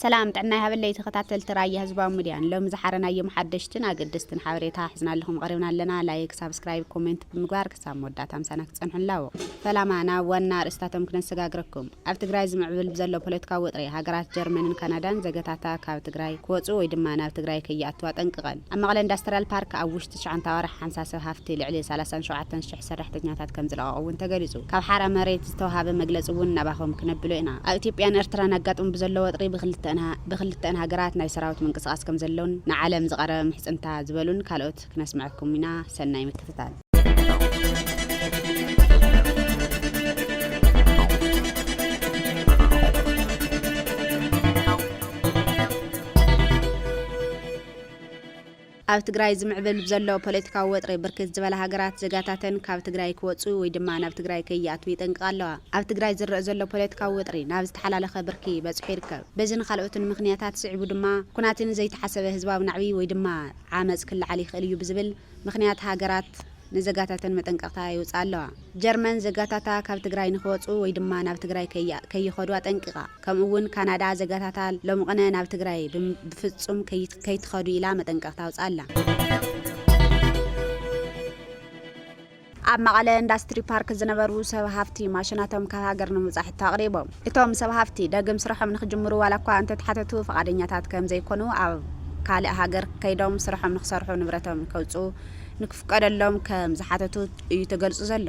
ሰላም ጥዕና ይሃበለይ ተከታተልቲ ራያ ህዝባዊ ምድያን ሎሚ ዝሓረናዮም ሓደሽትን ኣገደስትን ሓበሬታ ሕዝናልኹም ቐሪብና ኣለና ላይክ ሳብስክራይብ ኮሜንት ብምግባር ክሳብ መወዳእታ ምሳና ክትጸንሑ ላቦ ፈላማ ናብ ዋና ኣርእስታቶም ክነሰጋግረኩም ኣብ ትግራይ ዝምዕብል ብዘሎ ፖለትካዊ ወጥሪ ሃገራት ጀርመንን ካናዳን ዘገታታ ካብ ትግራይ ክወጹ ወይ ድማ ናብ ትግራይ ከይኣትዋ ጠንቅቐን ኣብ መቐለ እንዳስትራል ፓርክ ኣብ ትሽዓንተ ኣዋርሕ ሓንሳብ ሰብ ሃፍቲ ልዕሊ ሰላሳን ሸውዓተን ሽሕ ሰራሕተኛታት ከምዝለቐቑ እውን ተገሊፁ። ካብ ሓራ መሬት ዝተውሃበ መግለፂ እውን ናባኹም ክነብሎ ኢና። ኣብ ኢትዮጵያን ኤርትራን ኣጋጥሙ ብዘሎ ወጥሪ ብኽልተኣን ሃገራት ናይ ሰራዊት ምንቅስቓስ ከምዘሎን ንዓለም ዝቐረበ ምሕፅንታ ዝበሉን ካልኦት ክነስመዐኩም ኢና። ሰናይ ምክትታል። ኣብ ትግራይ ዝምዕብል ብዘሎ ፖለቲካዊ ወጥሪ ብርክት ዝበላ ሃገራት ዜጋታተን ካብ ትግራይ ክወፅኡ ወይ ድማ ናብ ትግራይ ከይኣትዉ ይጠንቅቓ ኣለዋ። ኣብ ትግራይ ዝረእ ዘሎ ፖለቲካዊ ወጥሪ ናብ ዝተሓላለኸ ብርኪ በፂሑ ይርከብ። በዚን ኻልኦትን ምኽንያታት ስዒቡ ድማ ኩናትን ዘይተሓሰበ ህዝባዊ ናዕቢ ወይ ድማ ዓመፅ ክለዓል ይኽእል እዩ ብዝብል ምኽንያት ሃገራት ንዘጋታተን መጠንቀቕታ የውጽኣ ኣለዋ። ጀርመን ዘጋታታ ካብ ትግራይ ንክወጹ ወይ ድማ ናብ ትግራይ ከይኸዱ ኣጠንቂቓ። ከምኡ እውን ካናዳ ዘጋታታ ሎምቕነ ናብ ትግራይ ብፍጹም ከይትኸዱ ኢላ መጠንቀቕታ ኣውጽኣ ኣላ። ኣብ መቐለ ኢንዳስትሪ ፓርክ ዝነበሩ ሰብ ሃፍቲ ማሽናቶም ካብ ሃገር ንምውፃእ ሕቶ ኣቕሪቦም። እቶም ሰብ ሃፍቲ ደግም ስርሖም ንክጅምሩ ዋላ እኳ እንተተሓተቱ ፍቓደኛታት ከምዘይኮኑ ኣብ ካልእ ሃገር ከይዶም ስርሖም ንክሰርሑ ንብረቶም ከውፅኡ ንክፍቀደሎም ከም ዝሓተቱ እዩ ተገልጹ ዘሎ።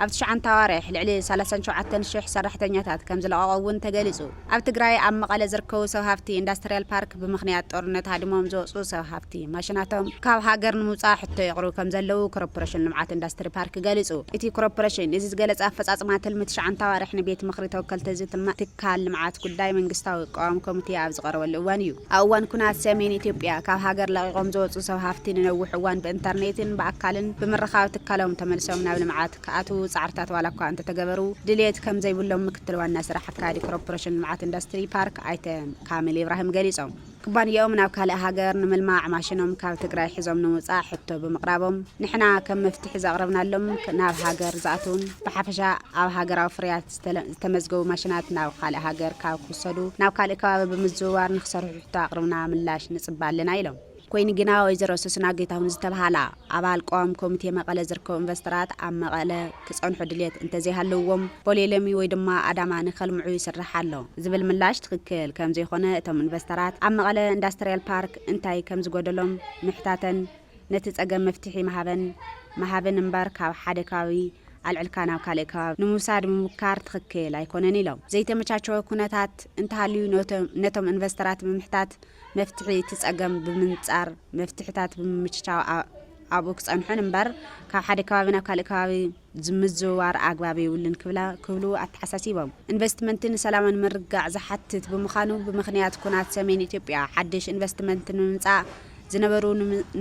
ኣብ ትሽዓንተ ኣዋርሕ ልዕሊ ሰላሳን ሸውዓተን ሽሕ ሰራሕተኛታት ከም ዝለቐቑ እውን ተገሊጹ። ኣብ ትግራይ ኣብ መቐለ ዝርከቡ ሰብ ሃፍቲ ኢንዳስትርያል ፓርክ ብምኽንያት ጦርነት ሃዲሞም ዝወጹ ሰብ ሃፍቲ ማሽናቶም ካብ ሃገር ንምውጻእ ሕቶ የቕርቡ ከም ዘለዉ ኮርፖረሽን ልምዓት ኢንዳስትሪ ፓርክ ገሊጹ። እቲ ኮርፖረሽን እዚ ዝገለጸ ኣፈጻጽማ ትልሚ ትሽዓንተ ኣዋርሕ ንቤት ምኽሪ ተወከልቲ ህዝቢ ትካል ልምዓት ጉዳይ መንግስታዊ ቅዋም ኮሚቴ ኣብ ዝቐረበሉ እዋን እዩ። ኣብ እዋን ኩናት ሰሜን ኢትዮጵያ ካብ ሃገር ለቒቖም ዝወፁ ሰብ ሃፍቲ ንነዊሕ እዋን ብእንተርኔትን ብኣካልን ብምርኻብ ትካሎም ተመልሶም ናብ ልምዓት ክኣትው ፃዕርታት ዋላ እኳ እንተተገበሩ ድልየት ከምዘይብሎም ምክትል ዋና ስራሕ ኣካያዲ ኮረፖሬሽን ልምዓት ኢንዳስትሪ ፓርክ ኣይተ ካሚል ኢብራሂም ገሊፆም። ኩባንየኦም ናብ ካልእ ሃገር ንምልማዕ ማሽኖም ካብ ትግራይ ሒዞም ንምውፃእ ሕቶ ብምቕራቦም ንሕና ከም መፍትሒ ዘቕረብናሎም ናብ ሃገር ዝኣትውን ብሓፈሻ ኣብ ሃገራዊ ፍርያት ዝተመዝገቡ ማሽናት ናብ ኻልእ ሃገር ካብ ክውሰዱ ናብ ካልእ ከባቢ ብምዝውዋር ንክሰርሑ ሕቶ ኣቕርብና ምላሽ ንፅበ ኣለና ኢሎም። ኮይኑ ግና ወይዘሮ ሶስና ጌታሁን ዝተብሃላ ኣባል ቅዋም ኮሚቴ መቐለ ዝርከቡ ኢንቨስተራት ኣብ መቐለ ክፀንሑ ድልየት እንተዘይሃለውዎም ቦሌሎሚ ወይ ድማ ኣዳማ ንከልምዑ ይስራሕ ኣሎ ዝብል ምላሽ ትኽክል ከምዘይኾነ እቶም ኢንቨስተራት ኣብ መቐለ ኢንዳስትሪያል ፓርክ እንታይ ከምዝጎደሎም ምሕታተን ነቲ ጸገም መፍትሒ ምሃበን ምሃብን እምበር ካብ ሓደ ከባቢ ኣልዕልካ ናብ ካልእ ከባቢ ንምውሳድ ምሙካር ትኽክል ኣይኮነን ኢሎም። ዘይተመቻቸወ ኩነታት እንተሃልዩ ነቶም ኢንቨስተራት ብምሕታት መፍትሒ እቲ ጸገም ብምንጻር መፍትሕታት ብምምችቻው ኣብኡ ክጸንሑን እምበር ካብ ሓደ ከባቢ ናብ ካልእ ከባቢ ምዝውዋር ኣግባብ የብሉን ክብላ ክብሉ ኣተሓሳሲቦም። ኢንቨስትመንት ንሰላምን ምርግጋዕ ዝሓትት ብምዃኑ ብምኽንያት ኩናት ሰሜን ኢትዮጵያ ሓድሽ ኢንቨስትመንት ንምምፃእ ዝነበሩ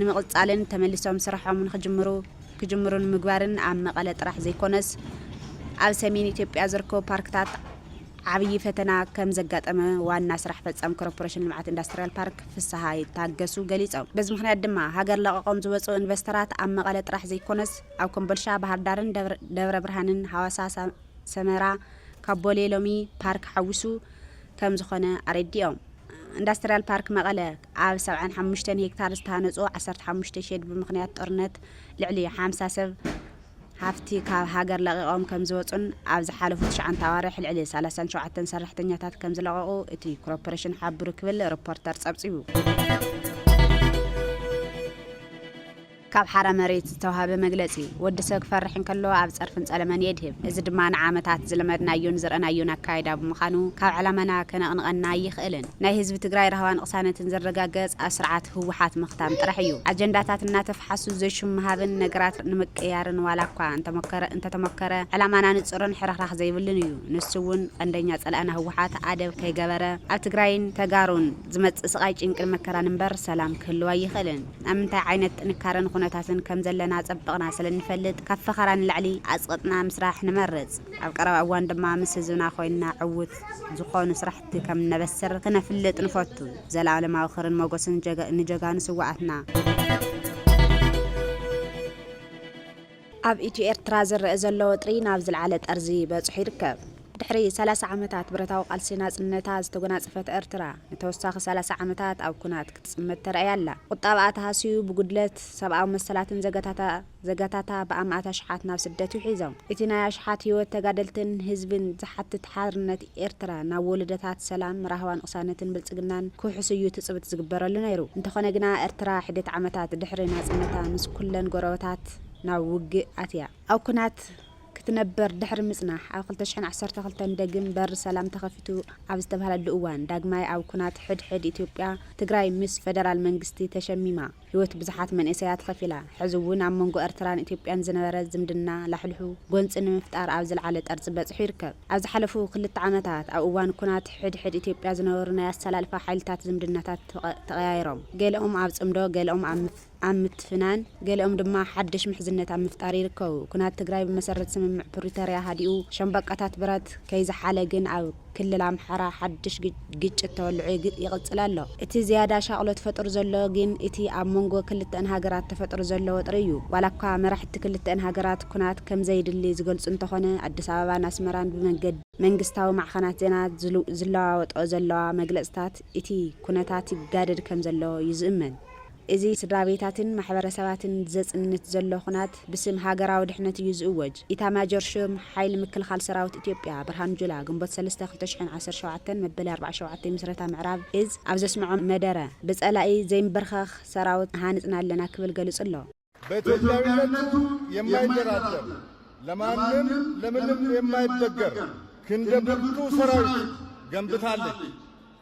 ንምቕፃልን ተመሊሶም ስርሖም ንክጅምሩ ክጅምሩ ንምግባርን ኣብ መቐለ ጥራሕ ዘይኮነስ ኣብ ሰሜን ኢትዮጵያ ዝርከቡ ፓርክታት ዓብዪ ፈተና ከምዘጋጠመ ዋና ስራሕ ፈፃሚ ኮርፖሬሽን ልምዓት ኢንዳስትሪያል ፓርክ ፍስሃ ታገሱ ገሊፆም። በዚ ምኽንያት ድማ ሃገር ለቐቖም ዝወፅኡ ኢንቨስተራት ኣብ መቐለ ጥራሕ ዘይኮነስ ኣብ ኮምቦልሻ ባህርዳርን ደብረ ብርሃንን ሃዋሳ ሰመራ ካብ ቦሌ ሎሚ ፓርክ ሓዊሱ ከም ዝኾነ ኣረዲኦም። ኢንዳስትርያል ፓርክ መቐለ ኣብ ሰብዓን ሓሙሽተን ሄክታር ዝተሃነፁ ዓሰርተ ሓሙሽተ ሼድ ብምኽንያት ጦርነት ልዕሊ ሓምሳ ሰብ ሃፍቲ ካብ ሃገር ለቒቖም ከም ዝወፁን ኣብ ዝሓለፉ ትሽዓንተ ኣዋርሕ ልዕሊ ሰላሳን ሸውዓተን ሰራሕተኛታት ከም ዝለቐቑ እቲ ኮርፖሬሽን ሓብሩ ክብል ሪፖርተር ፀብፂቡ። ካብ ሓራ መሬት ዝተዋህበ መግለጺ፣ ወዲ ሰብ ክፈርሕ እንከሎ ኣብ ጸርፍን ጸለመን የድህብ። እዚ ድማ ንዓመታት ዝለመድናዮን ዝረእናዮን ኣካይዳ ብምዃኑ ካብ ዕላማና ከነቕንቐና ኣይኽእልን። ናይ ህዝቢ ትግራይ ራህዋን ቕሳነትን ዝረጋገጽ ኣብ ስርዓት ህወሓት ምኽታም ጥራሕ እዩ። ኣጀንዳታት እናተፍሓሱ ዘይሹም ምሃብን ነገራት ንምቅያርን ዋላኳ እንተተሞከረ ዕላማና ንጹርን ሕርኽራኽ ዘይብሉን እዩ። ንሱ እውን ቐንደኛ ጸላእና ህወሓት ኣደብ ከይገበረ ኣብ ትግራይን ተጋሩን ዝመጽእ ስቓይ ጭንቅን መከራን እምበር ሰላም ክህልው ኣይኽእልን። ኣብ ምንታይ ዓይነት ጥንካረን ኹነታትን ከም ዘለና ኣጸብቕና ስለ እንፈልጥ ካብ ፈኸራ ንላዕሊ ኣጽቕጥና ምስራሕ ንመርጽ። ኣብ ቀረባ እዋን ድማ ምስ ህዝብና ኮይንና ዕውት ዝኾኑ ስራሕቲ ከም እነበስር ክነፍልጥ ንፈቱ። ዘልኣለማዊ ክርን ሞጎስን ንጀጋኑ ስውኣትና። ኣብ ኢትዮ ኤርትራ ዝረኣ ዘሎ ወጥሪ ናብ ዝልዓለ ጠርዚ በጽሑ ይርከብ። ድሕሪ ሰላሳ ዓመታት ብረታዊ ቃልሲ ናጽነታ ዝተጎናጸፈት ኤርትራ፣ ንተወሳኺ ሰላሳ ዓመታት ኣብ ኩናት ክትጽመድ ተራእያ ኣላ። ቁጠባኣ ተሃስዩ ብጉድለት ሰብኣዊ መሰላትን ዘገታታ ዘገታታ ብኣማእት ኣሽሓት ናብ ስደት ውሒዞም። እቲ ናይ ኣሽሓት ህይወት ተጋደልትን ህዝብን ዝሓትት ሓርነት ኤርትራ ናብ ወለዶታት ሰላም፣ ራህዋን ቕሳነትን ብልጽግናን ክውሕስ እዩ ትጽብት ዝግበረሉ ነይሩ። እንተኾነ ግና ኤርትራ ሒደት ዓመታት ድሕሪ ናጽነታ ምስ ኩለን ጎረበታት ናብ ውግእ ኣትያ። ኣብ ኩናት ክትነበር ድሕሪ ምጽናሕ ኣብ ክልተ ሽሕን ዓሰርተ ክልተን ደግም በሪ ሰላም ተኸፊቱ ኣብ ዝተባህለሉ እዋን ዳግማይ ኣብ ኩናት ሕድ ሕድ ኢትዮጵያ ትግራይ ምስ ፈደራል መንግስቲ ተሸሚማ። ህይወት ብዙሓት መንእሰያት ኸፊላ። ሕዚ እውን ኣብ መንጎ ኤርትራን ኢትዮጵያን ዝነበረ ዝምድና ላሕሉሑ ጎንፂ ንምፍጣር ኣብ ዝለዓለ ጠርፂ በፂሑ ይርከብ። ኣብ ዝሓለፉ ክልተ ዓመታት ኣብ እዋን ኩናት ሕድ ሕድ ኢትዮጵያ ዝነበሩ ናይ ኣሰላልፋ ሓይልታት ዝምድናታት ተቐያይሮም። ገለኦም ኣብ ፅምዶ፣ ገለኦም ኣብ ምትፍናን፣ ገለኦም ድማ ሓድሽ ምሕዝነት ኣብ ምፍጣር ይርከቡ። ኩናት ትግራይ ብመሰረት ስምምዕ ፕሪቶርያ ሃዲኡ ሸምበቆታት ብረት ከይዘሓለ ግን ኣብ። ክልል ኣምሓራ ሓድሽ ግጭት ተወልዑ ይቕጽል ኣሎ። እቲ ዝያዳ ሻቕሎት ፈጥሩ ዘሎ ግን እቲ ኣብ መንጎ ክልተኣን ሃገራት ተፈጥሩ ዘሎ ወጥሪ እዩ። ዋላኳ መራሕቲ ክልተኣን ሃገራት ኩናት ከም ዘይድሊ ዝገልጹ እንተኾነ ኣዲስ ኣበባን ኣስመራን ብመንገዲ መንግስታዊ ማዕኸናት ዜና ዝለዋወጠኦ ዘለዋ መግለጽታት እቲ ኩነታት ይጋደድ ከም ዘሎ እዩ ዝእመን። እዚ ስድራቤታትን ማሕበረሰባትን ዘጽንት ዘሎ ኹናት ብስም ሃገራዊ ድሕነት እዩ ዝእወጅ፣ ኢታማጆር ሹም ሓይሊ ምክልኻል ሰራዊት ኢትዮጵያ ብርሃኑ ጁላ ግንቦት ሰለስተ ክልተ ሽሕን ዓሰርተ ሸውዓተን መበል ኣርብዓ ሸውዓተ ምስረታ ምዕራብ እዝ ኣብ ዘስምዖ መደረ ብጸላኢ ዘይምብርኸኽ ሰራውት ሃንጽና ኣለና ክብል ገሉጹ ኣሎ። በኢትዮጵያዊነቱ የማይደራደር፣ ለማንም ለምንም የማይበገር ክንደ ብርቱ ሰራዊት ገንብታለች።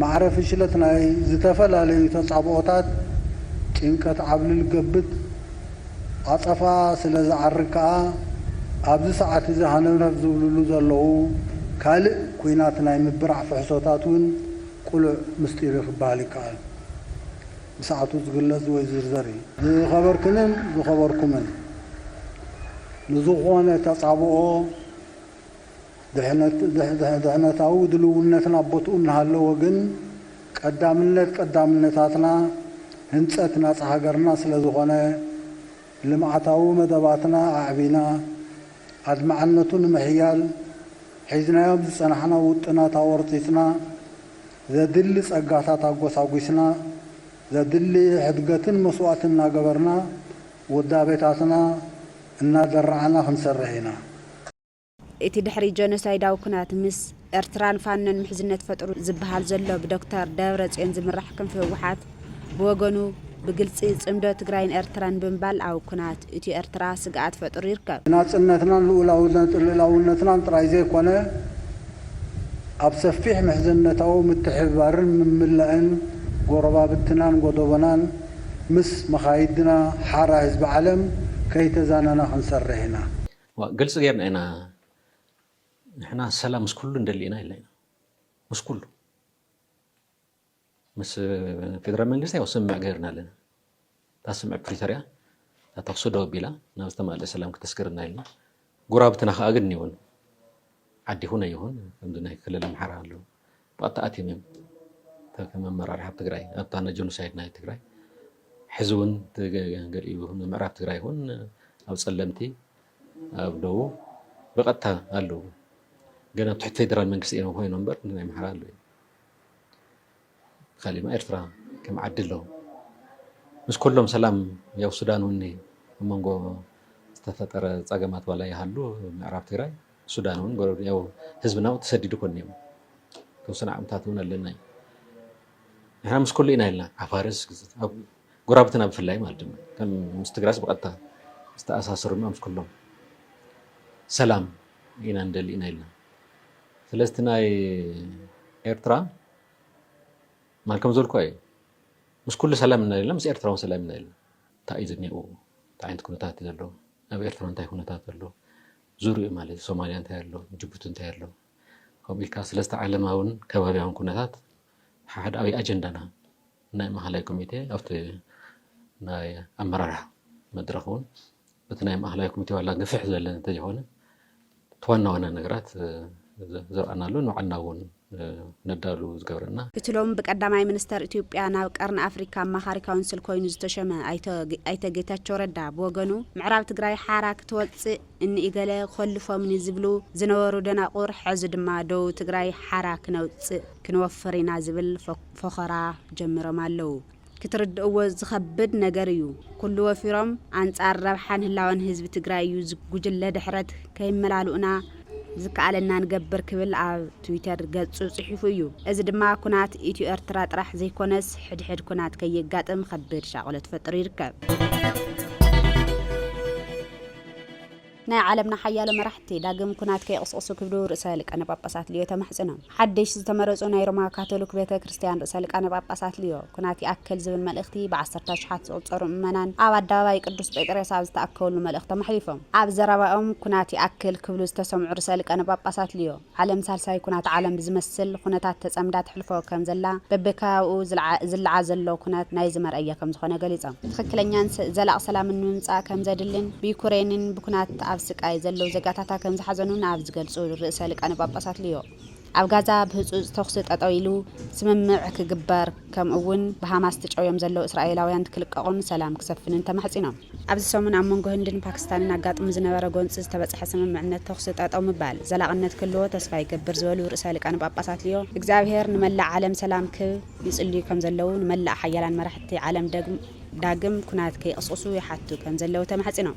ማዕረ ፍሽለት ናይ ዝተፈላለዩ ተጻብኦታት ጭንቀት ዓብልል ገብጥ ዓጸፋ ስለ ዝዓርግ ከኣ ኣብዚ ሰዓት እዚ ሃነፍነፍ ዝብልሉ ዘለዉ ካልእ ኩናት ናይ ምብራዕ ፍሕሶታት እውን ቅሉዕ ምስጢር እዩ ክበሃል ይከኣል። ብሰዓቱ ዝግለጽ ወይ ዝዝርዘር እዩ። ዝኸበርክንን ዝኸበርኩምን ንዝኾነ ተጻብኦ ድሕነታዊ ድልውነትና ቦትኡ እናሃለወ ግን ቀዳምነት ቀዳምነታትና ህንፀት ናፃ ሃገርና ስለዝኾነ ልምዓታዊ መደባትና ኣዕቢና ኣድማዕነቱ ንምሕያል ሒዝናዮም ዝፀናሕና ውጥናት ኣወርፂፅና ዘድሊ ፀጋታት ኣጎሳጒስና ዘድሊ ሕድገትን መስዋእትን እናገበርና ውዳቤታትና እናደራዕና ክንሰርሕ ኢና። እቲ ድሕሪ ጀኖሳይዳዊ ኩናት ምስ ኤርትራን ፋኖን ምሕዝነት ፈጥሩ ዝብሃል ዘሎ ብዶክተር ደብረጽዮን ዝምራሕ ክንፊ ህወሓት ብወገኑ ብግልጺ ጽምዶ ትግራይን ኤርትራን ብምባል ኣብ ኩናት ኢትዮ ኤርትራ ስግኣት ፈጥሩ ይርከብ። ንናጽነትናን ልኡላውነትናን ጥራይ ዘይኮነ ኣብ ሰፊሕ ምሕዝነታዊ ምትሕብባርን ምምላእን ጎረባብትናን ጎዶቦናን ምስ መኻይድና ሓራ ህዝቢ ዓለም ከይተዛነና ክንሰርሕ ኢና። እዋ ግልፂ ገይርና ኢና ንሕና ሰላም ምስ ኩሉ ንደሊ ኢና ኢልና ኢና ምስ ኩሉ ምስ ፌደራል መንግስቲ ያው ስምምዕ ገይርና ኣለና እታ ስምምዕ ፕሪቶሪያ እታ ተኽሲ ደው ኣቢላ ናብ ዝተማልእ ሰላም ክተስግርና ኢልና ጉራብትና ከዓ ግን ይኹን ዓዲ ይኹን ኣይኹን ከምዚ ናይ ክልል ኣምሓራ ኣለዉ ብቐጥታ ኣትዮም እዮም እታ ከም ኣመራርሓ ኣብ ትግራይ ኣብታ ንጆኖሳይድ ናይ ትግራይ ሕዚ እውን ገሊኡ ንምዕራብ ትግራይ እውን ኣብ ፀለምቲ ኣብ ደቡብ ብቐጥታ ኣለዉ ገና ኣብ ትሕቲ ፌደራል መንግስቲ እዮም ኮይኑ እምበር ናይ ምሓራ ኣለ ካሊማ ኤርትራ ከም ዓዲ ኣለዉ ምስ ኩሎም ሰላም ያው ሱዳን እውን ኣብ መንጎ ዝተፈጠረ ፀገማት ዋላ ይሃሉ ምዕራብ ትግራይ ሱዳን እውን ጎረብ ያው ህዝብና እውን ተሰዲዱ ኮን እዮም ተወሰነ ዓቕምታት እውን ኣለና እዩ ንሕና ምስ ኩሉ ኢና ኢልና ዓፋርስ ጎራብትና ብፍላይ ማለት ድማ ከም ምስ ትግራስ ብቐጥታ ዝተኣሳሰሩ ድማ ምስ ኩሎም ሰላም ኢና ንደሊ ኢና ኢልና ስለዚ እቲ ናይ ኤርትራ ማል ከም ዘልኩ እዩ ምስ ኩሉ ሰላም ኢና ኢልና ምስ ኤርትራ እውን ሰላም ኢና ኢልና እንታይ እዩ ዝኒኡ እንታይ ዓይነት ኩነታት እዩ ዘሎ ኣብ ኤርትራ እንታይ ኩነታት ኣሎ ዙርይኡ ማለት ሶማልያ እንታይ ኣሎ ጅቡቲ እንታይ ኣሎ ከምኡ ኢልካ ስለዝተ ዓለማውን ከባብያውን ኩነታት ሓሓደኣዊ ኣጀንዳና ናይ ማእኸላይ ኮሚቴ ኣብቲ ናይ ኣመራርሓ መድረኽ እውን እቲ ናይ ማእኸላይ ኮሚቴ ዋላ ግፍሕ ዝበለ እንተዝኾነ እቲ ዋና ዋና ነገራት ዘርኣናሉ ንባዕልና እውን ነዳሉ ዝገብረና። እቲ ሎሚ ብቀዳማይ ሚኒስተር ኢትዮጵያ ናብ ቀርኒ ኣፍሪካ ኣማኻሪ ካውንስል ኮይኑ ዝተሸመ ኣይተ ጌታቸው ረዳ ብወገኑ ምዕራብ ትግራይ ሓራ ክትወፅእ እኒ ኢገለ ኮልፎምኒ ዝብሉ ዝነበሩ ደናቑር ሐዚ ድማ ደቡብ ትግራይ ሓራ ክነውፅእ ክንወፍር ኢና ዝብል ፎኸራ ጀሚሮም ኣለው። ክትርድእዎ ዝኸብድ ነገር እዩ። ኩሉ ወፊሮም ኣንፃር ረብሓን ህላወን ህዝቢ ትግራይ እዩ ጉጅለ ድሕረት ከይመላልኡና ዝከኣለና ንገብር ክብል ኣብ ትዊተር ገፁ ፅሒፉ እዩ። እዚ ድማ ኩናት ኢትዮ ኤርትራ ጥራሕ ዘይኮነስ ሕድሕድ ኩናት ከየጋጥም ኸቢድ ሻቕሎት ፈጢሩ ይርከብ። ናይ ዓለምና ሓያሎ መራሕቲ ዳግም ኩናት ከይቕስቕሱ ክብሉ ርእሰ ሊቃነ ጳጳሳት ሊዮ ተማሕጺኖም። ሓደሽ ዝተመረጹ ናይ ሮማ ካቶሊክ ቤተ ክርስቲያን ርእሰ ሊቃነ ጳጳሳት ሊዮ ኩናት ይኣክል ዝብል መልእኽቲ ብዓሰርተ ኣሽሓት ዝቑጸሩ ምእመናን ኣብ ኣደባባይ ቅዱስ ጴጥሬስ ኣብ ዝተኣከብሉ መልእኽቶም ኣሕሊፎም። ኣብ ዘረባኦም ኩናት ይኣክል ክብሉ ዝተሰምዑ ርእሰ ሊቃነ ጳጳሳት ሊዮ፣ ዓለም ሳልሳይ ኩናት ዓለም ብዝመስል ኹነታት ተፀምዳ ተሕልፎ ከም ዘላ በቢከባቢኡ ዝልዓ ዘሎ ኩነት ናይዚ መርኣያ ከም ዝኾነ ገሊፆም። ትኽክለኛን ዘላቒ ሰላምን ንምምፃእ ከም ዘድሊን ብዩክሬንን ብኩናት ኣብ ስቃይ ዘለው ዜጋታታ ከም ዝሓዘኑን ኣብ ዝገልፁ ርእሰ ሊቃነ ጳጳሳት ሊዮ ኣብ ጋዛ ብህፁፅ ተኹሲ ጠጠው ኢሉ ስምምዕ ክግበር ከምኡ'ውን ብሃማስ ተጨውዮም ዘለዉ እስራኤላውያን ክልቀቑን ሰላም ክሰፍንን ተማሕጺኖም። ኣብዚ ሰሙን ኣብ መንጎ ህንድን ፓኪስታንን ኣጋጥሙ ዝነበረ ጎንጺ ዝተበጽሐ ስምምዕነት ተኹሲ ጠጠው ምባል ዘላቕነት ክህልዎ ተስፋ ይገብር ዝበሉ ርእሰ ሊቃነ ጳጳሳት ሊዮ፣ እግዚኣብሔር ንመላእ ዓለም ሰላም ክህብ ይጽልዩ ከም ዘለዉ፣ ንመላእ ሓያላን መራሕቲ ዓለም ዳግም ኵናት ከይቕስቕሱ ይሓቱ ከም ዘለዉ ተማሕጺኖም።